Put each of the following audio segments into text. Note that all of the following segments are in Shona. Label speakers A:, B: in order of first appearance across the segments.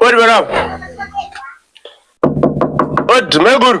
A: Odi bwana. Odi maiguru.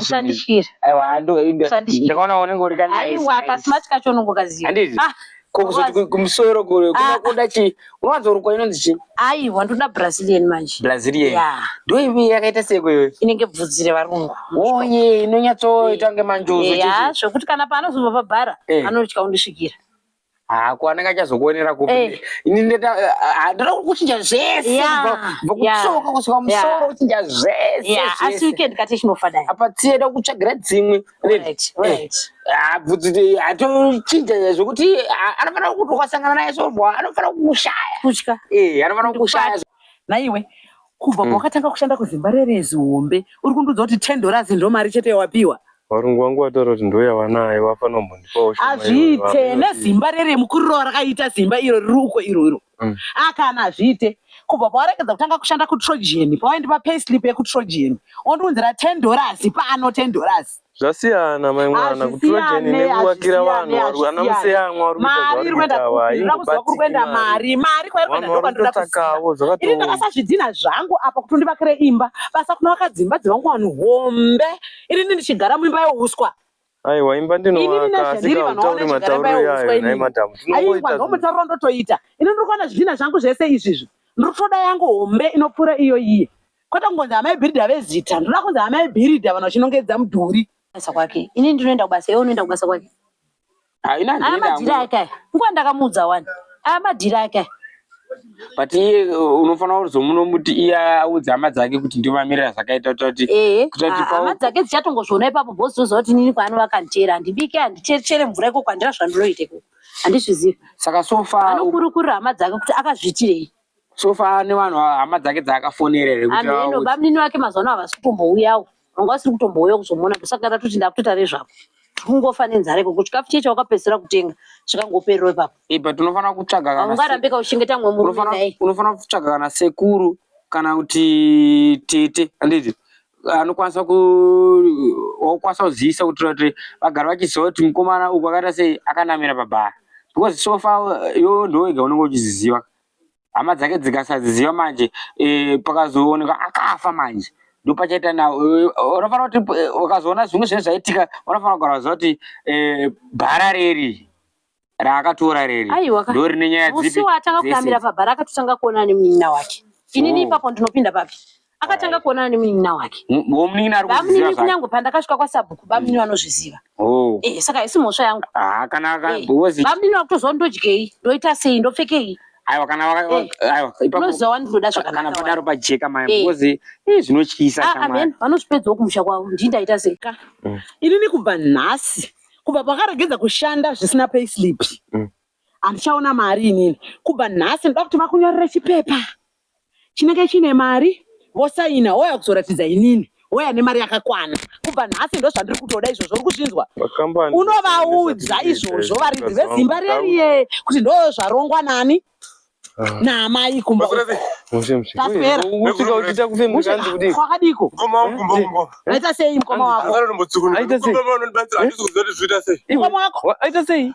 B: usandisvire aiwa ando inde Usandisvire.
C: ndakaona unenge uri ka aiwa kasimati kacho
B: unongokaziva Handiti? Ah, ko
C: kuzoti ku- kumusoro kure Ah. kuda kuda chi unowanzorukwa inonzi chi aiwa ndoda brazilian
B: manje brazilian Yeah. ndo
C: ivi
B: yakaita
C: seko iwe inenge bvudzi revarungu
B: oye
C: inonyatsoita kunge manjuzu eya chichi zvekuti kana paanozobva
B: pabhara Eh. anotya kundisvikira Ah, ko anenge
C: achazokuonera kupi Eh. ini ndeta ah, ndoda kuchinja zvese Yeah, kubva kubva yeah, kutsoka kusvika musoro yeah. kuchinja zvese Yeah, asi zvese weekend kati
B: chinofa dai. apa tsieda kutsvagira
C: dzimwe Right, right.
B: Ah, bvudzi de-
C: atochinja zvekuti ah, anofanira kuti ukasangana naye sobwa anofanira kukushaya Kutya. Eh, anofanira
B: kukushaya
C: Naiwe
B: kubva hmm. kwakatanga kushanda kuzimba rerezi hombe uri kundiudza kuti ten dollars ndo mari chete yawapiwa varungu vangu vataura
A: kuti ndoyavanaye vafanombondipawo hazviite nezimba
B: rere mukurirova rakaita zimba iro riri uko iro iro hmm. akana ah, hazviite kubva pawaregedza kutanga kushanda kutrogen pawaindipa payslip yekutrogen ondiunzira ten dollars paano ten dollars zvasiyana mai
A: mwana kutura jeni nekuwakira vanhu ana museyamwa vari kuitakuenda mari
B: mari kwairikwendaoatakavo zvakatoiri
A: ndakasazvidhina
B: zvangu apa kuti ndivakire imba basa kuna vakadzimba dzevangu vanhu hombe ini ndi ndichigara muimba yeuswa aiwa imba
A: ndinoakaasikaautauri matauriro yayo nai madhamu tinovoitaomutauriro
B: ndotoita ini ndiri kuona zvidhina zvangu zvese izvizvi ndiri kutoda yangu hombe inopfuura iyo iye Kwete kungonzi amai Bhiridha vezita, ndinoda kunzi amai Bhiridha vanhu vachinongedza mudhuri. Basa kwake. Ini ndinoenda kubasa, iwe unoenda kubasa kwake. Haina Aya ndinoenda madhiri hangu. ake aya. Nguva ndakamuudza wani. Aya madhiri ake aya. But
C: iye uh, unofanira kuzomunomuti iye audze hama dzake kuti ndiwo mamiriro azvakaita kuita kuti Ehe. kuita kuti Ah, pau- Hama dzake
B: dzichatongozviona ipapo boss voziva kuti nini kwaano vakandichere. Handibike, handichere mvura ikoko, handina zvandinoita ikoko. Handizvizivi. saka so far
C: u- Anokurukurira hama dzake
B: kuti akazviitirei. so far ne
C: vanhu hama dzake dzaakafonera here kuti ameno vaudze? bamnini vake mazuva
B: ano havasi kutombouyawo vanga vasiri kutombouyawo kuzomuona ndosaka tatoti ndakutoita rezvako tikungofa nenzara ikoko chikafu chiye chawakapedzisira kutenga chikangopererwa ipapo ipa tinofanira kutsvaga
C: kana se- haungarambe kauchengeta mumwe murume
B: unofanira naye unofanira kutsvaga kana
C: sekuru kana kuti tete handiti anokwanisa ku wakukwanisa kuzivisa kuti kuti vagari vachiziva kuti mukomana uku akaita sei akanamira pabhara because so far yo ndowega unenge uchiziziva hama dzake dzikasaziziva manje e, pakazooneka akafa manje ndopachaita na eh, unofanira kuti eh, ukazoona zvimwe zvinenge zvaitika unofanira kugara waziva kuti e, bhara reri raakatora reri ndo rine nyaya dzipi musi waatanga kuyamira pabhara
B: akatotanga kuonana nemunin'ina wake inini oh. ipapo ndinopinda papi akatanga kuonana nemunin'ina wake womunin'ina ari kuziva bamunini
C: kunyange pandakasvika
B: kwasabhuku bamunini vanozviziva oh. eh saka haisi mhosva yangu ah kana eh,
C: bamunini vakutoziva
B: ndodyei ndoita sei ndopfekei aiwa kana
C: eh. aiwa ipaoziva
B: wandinoda zvakakana padaro pajeka maya
C: eh. because ii zvinotyisa ah, ah, amen vanozvipedzawo
B: kumusha kwavo ndii ndaita sei ka mm. inini kubva nhasi kubva pakaregedza kushanda zvisina payslip mm. handichaona mari inini kubva nhasi ndoda kuti vakunyorere chipepa chinenge chine mari vosaina wouya kuzoratidza inini wouya nemari yakakwana kubva nhasi ndozvandiri kutoda izvozvo uri kuzvinzwa unovaudza izvozvo varidzi vezimba reriye kuti ndo zvarongwa nani ah. naamai kumba tapera kwakadiko aita sei mukoma wako
A: aita sei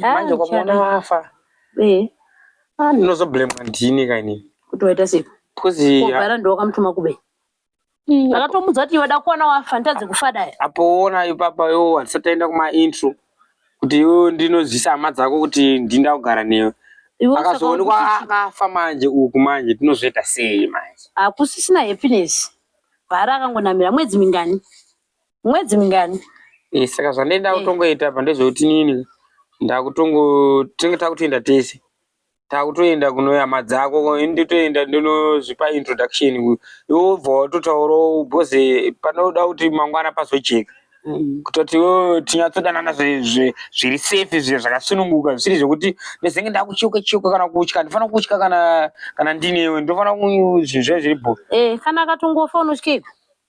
B: manje ukamuona afa
C: ndinozoblemwa ndini ka ini
B: kuti
C: waita sei bcause obara ndowakamutuma
B: kube akatomudza kuti iwe da kuwana wafa nditadze kufa dai apoona ipapa
C: yo handisataenda kumaintro kuti iwe ndinozivisa hama dzako kuti ndinda kugara newe akazoonekwa akafa manje uku manje tinozoita sei manje hakusisina happiness
B: bhara akangonamira mwedzi mingani mwedzi mingani Eh, saka zvandaida
C: kutongoita apa ndezvekuti nini ndakutongo tinenge takutoenda tese takutoenda kunoyama dzako ini nditoenda ndinozvipa introduction uyu iwe wobva watotaurawo bhoze panoda kuti mangwana pazojeka kutoti iwe tinyatsodanana zve- zve- zviri safe zve zvakasununguka zvisiri zvekuti ndozenge ndakuchiuka chiuka kana kutya handifana kutya kana kana ndinewe ndofana zvinhu zve zviri bho Eh, kana akatongofa
B: unotyeiko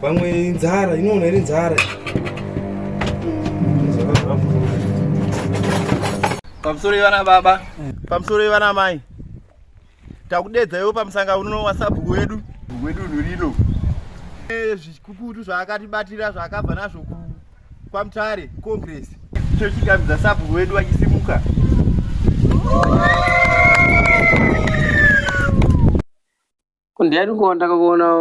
D: Pamwe inzara inoona iri nzara.
E: Pamusoro ivana baba. Pamusoro ivana mai. Takudedza iwe pamusanga uno wasabhuku wedu. Wedu rino. Eh, zvikukutu zvaakatibatira zvaakabva nazvo ku kwamutare congress chochigamidza sabhuku wedu achisimuka
C: Kundiyani kuonda kuona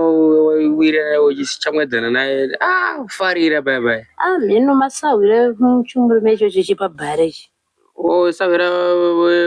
C: wira uchichamwedzana naye ah farira bye bye. Ah mino masahwira
B: muchumuri mecho chichipa bare chi. Oh
C: sahwira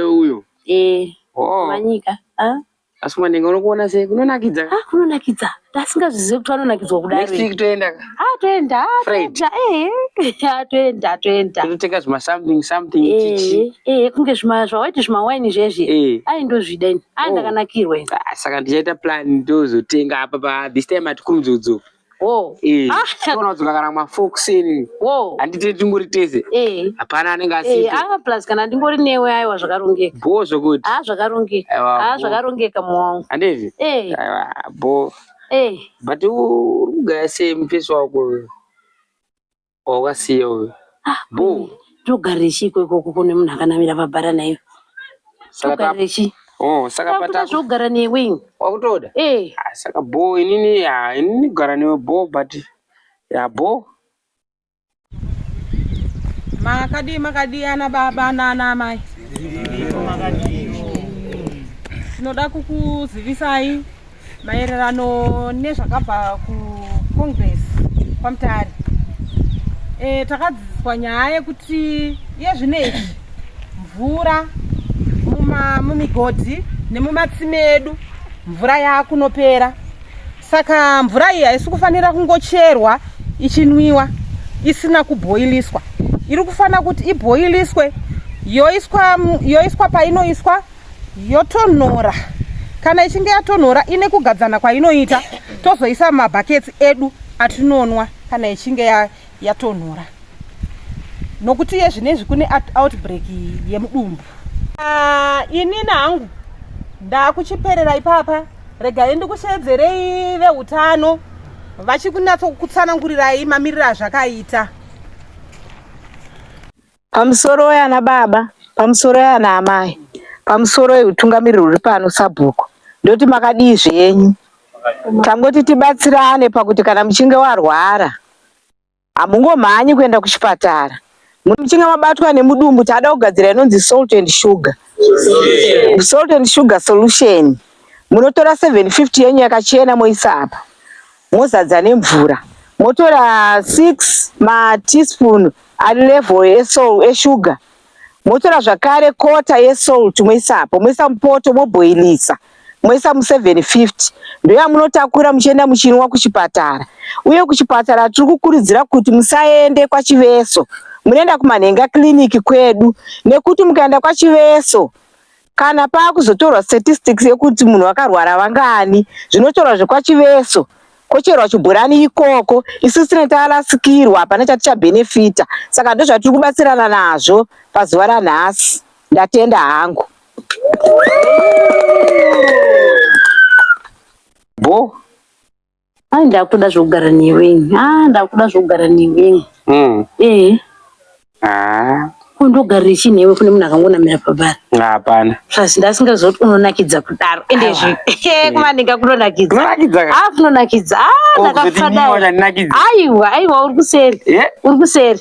C: uyo. Eh. Oh.
B: Manyika. Ah.
C: Asi mwana ndinga unokuona sei kunonakidza. Ah kunonakidza.
B: Tasingazvizivi kuti vanonakidzwa kudai. Next week toenda. Ah
C: toenda. Ah,
B: Friday. Eh. Ah toenda toenda. Totenga zvima something
C: something eh, chichi. Eh eh kunge zvima
B: zvawaiti zvima wine zvezvi. Eh. Ai ndozvida ini. Ah, ndakanakirwa ini. Ah, saka ndichaita
C: plan tozotenga apa pa this time at kumzuzu. Oh. Eh. Ah, tona dzoka kana ma fox ini. Oh. Andite tingori tese. Eh. Hapana anenge eh, asipo. Eh, ah plus kana ndingori
B: newe aiwa zvakarongeka. Bo zvokuti. Ah
C: zvakarongeka. Ah
B: zvakarongeka mwangu. Andevi. Eh.
C: Aiwa bo. Eh. But u ugaya same face wako. wawasiya uyu ah, boo togarechi
B: ikoko kuko nemunhu akanamira pabhara naiyo togarechi Oh, saka pata
C: zvogara newe
B: wakutoda eh
C: ah, saka bho inini ya inini gara newe bho but ya bho
F: makadi makadi ana baba nana mai tinoda kukuzivisai maererano nezvakabva kucongress kwamutare e, eh, takadzidziswa nyaya yekuti iye zvino izvi mvura mumigodhi nemumatsime edu mvura yaakunopera saka mvura iyi haisi kufanira kungocherwa ichinwiwa isina kubhoiliswa iri kufanira kuti ibhoiliswe yoiswa, yoiswa painoiswa yotonhora kana ichinge yatonhora ine kugadzana kwainoita tozoisa mabhaketsi edu atinonwa kana ichinge yatonhora ya nokuti iye zvine izvi kune outbreak yemudumbu ah, inini hangu ndakuchiperera ipapa regai ndikusheedzerei veutano vachikunatso kutsanangurirai mamiriro azvakaita Pamusoro weana
G: baba,
B: pamusoro weana amai, pamusoro wehutungamiriri huri pano sabhuku, ndoti makadii zvenyu? Tangoti tibatsirane pakuti kana muchinge warwara hamungomhanyi kuenda kuchipatara muchinge mabatwa nemudumbu taada kugadzira inonzi salt and sugar salt and sugar solution munotora 750 yenyu yakachena moisa apa mozadza nemvura motora 6 ma teaspoon ari level esol eshuga motora zvakare kota yesol tumoisapo moisa mupoto moboilisa moisa mu 750 ndoyamunotakura muchienda muchinwa kuchipatara uye kuchipatara tiri kukurudzira kuti musaende kwachiveso munoenda kumanhenga kiriniki kwedu nekuti mukaenda kwachiveso kana pakuzotorwa statistics yekuti munhu wakarwara vangani zvinotorwa zvekwachiveso kocherwa chibhurani ikoko isu sine tarasikirwa hapana chatichabenefita saka ndozvatiri kubatsirana nazvo pazuva ranhasi ndatenda hangu
C: bo
B: Ai ndakutoda zvekugara newe ini. Ah ndakuda zvekugara newe ini. Mm. Eh. Ah. Kundogarira ichi newe kune munhu akangonamira pabhari. Hapana. Plus
C: ndasingazoti
B: unonakidza kudaro. Ende zve. Eh kuma ndinga kunonakidza. Kunonakidza. Ah
C: kunonakidza.
B: Ah ndakafada. Aiwa aiwa uri kuseri. Yeah. Uri kuseri.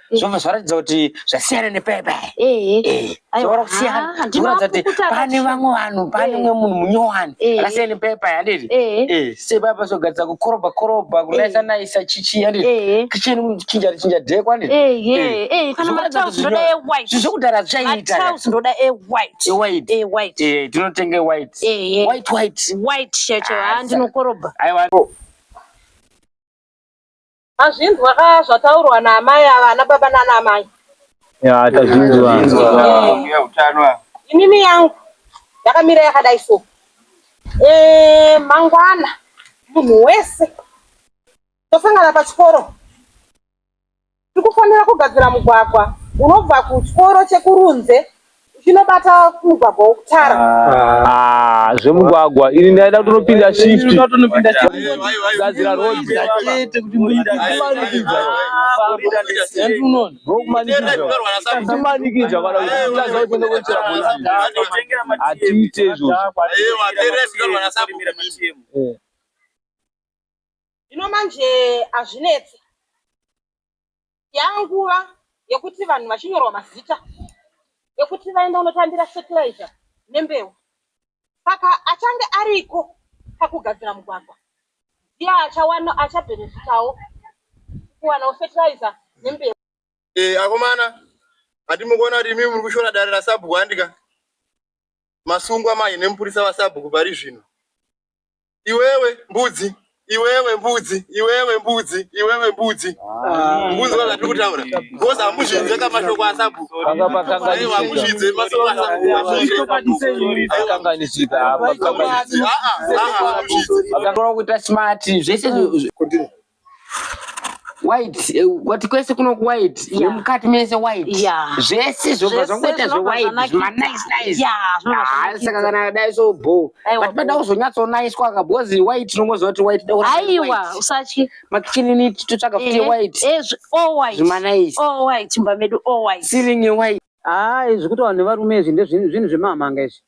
C: zvobva zvaratidza kuti zvasiyana nepepa zvora kusiyana zvinoratidza kuti pane vamwe vanhu pane umwe munhu munyowani akasiyana nepepa handiti sepepa zogadzira kukorobha korobha kunaisa naisa chichi handiti kicheni chinja chinja dheko handitizvokudhara
B: zvichaitazvinotenga
C: white white white white
B: shirt ndinokorobha aiwa
F: Azvinzwa ka zvataurwa naamai ava ana baba nana amai. Ya tazvinzwa. Mbuya
C: utano ava. Inini yangu
F: yakamira yakadai so. Eh mangwana munhu wese tosangana pachikoro tikufanira kugadzira mugwagwa unobva kuchikoro chekurunze Chinobata mugwagwa wokutara. Ah, zvemugwagwa
H: ini ndaida kutonopinda shift gadzira road kumanikidza kana kutadza kutenda kuchera hatiite izvozvo
F: Zvino manje azvinetsi. yanguva yekuti vanhu vachinyorwa mazita yekuti vaenda unotambira fertilizer nembeu saka achange ariko pakugadzira mugwagwa ndiye achawana achabhenefitawo kuwanawo fertilizer nembeu eh, akomana
E: hati mukuona kuti imimi muri kushora dare rasabhuku handika masungwa manje nemupurisa vasabhuku pari zvino iwewe mbudzi iwewe mbudzi iwewe mbudzi iwewe mbudzi mbudzi vana tiri kutaura bcause hamuzvidze ka mashoko asabu hamuzvidze mashoko
H: asabuakanganisikakanganisikakanganisika
C: kuita smart zvese white eh, wati kwese kuno white yeah. nemukati mese white yeah. zvese zvobva zvangoita zvewhite zvimanice ah, saka kana dai so bo but pada kuzonyatsonaiswa ka because white unongoziva kuti white aiwa usatye
B: makichini
C: totsvaga futi white
B: zvimanice ceiling white
C: haa izvi kuti vanhu
G: nevarume izvi ndezvinhu zvemamhanga izvi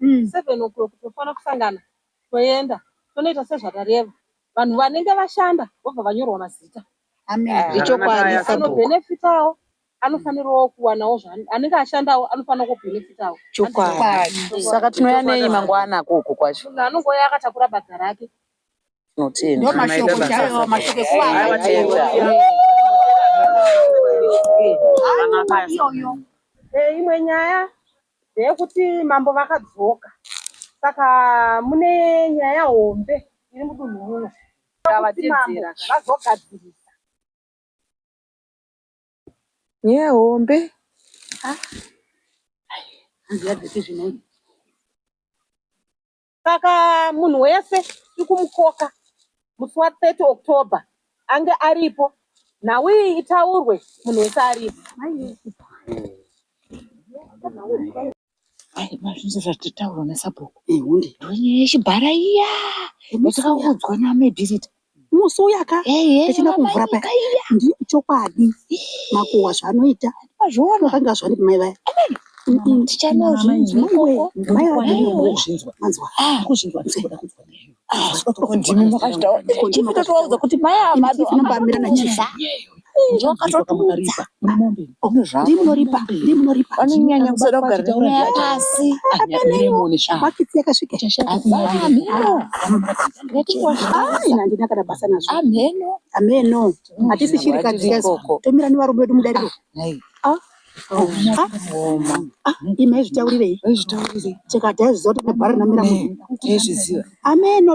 F: mm. seven o'clock tofanira kusangana toenda tonoita sezvakareva vanhu vanenge vashanda vobva vanyorwa mazita eh, ichokwadi anobhenefitawo anofanirawo kuwanawo anenge ashandawo anofanira kubhenefitawo chokwadi
B: saka tinouya nei mangwana koko kwacho munhu anongouya akatakura
F: badza rake imwe nyaya Ndeyekuti mambo vakadzoka saka mune nyaya hombe iri mudunhu muno. Ngavateedzera zvavazogadzirisa.
B: Nyaya hombe. Hanzi yadzikizve nhai.
F: saka munhu wese ikumukoka musi wa 30 october ange aripo nhau iyi itaurwe munhu wese aripo
B: zvinhu zvatitaurwa nasabhuku hunde ndonyaya yechibhara iya yatakaudzwa namebhirita musi uyaka
I: tichina kumvura paya ndi chokwadi makuwa zvanoita zvakanga zvani kumai vaya
B: ndimi makazvitaura kuti mai ava vanombamira nachisa ndokatotumudza
I: ndimunoripa ndimunoripa
B: vanonyanya kusada kugara tauraya pasi bakiti
I: yakasvika ndinakada basa nazvo amheno amheno hatisi chirikadzi yazo tomira nevarume vedu mudariro imai zvitaurirei chekadai zviziva kuti nebhara namira munhu ameno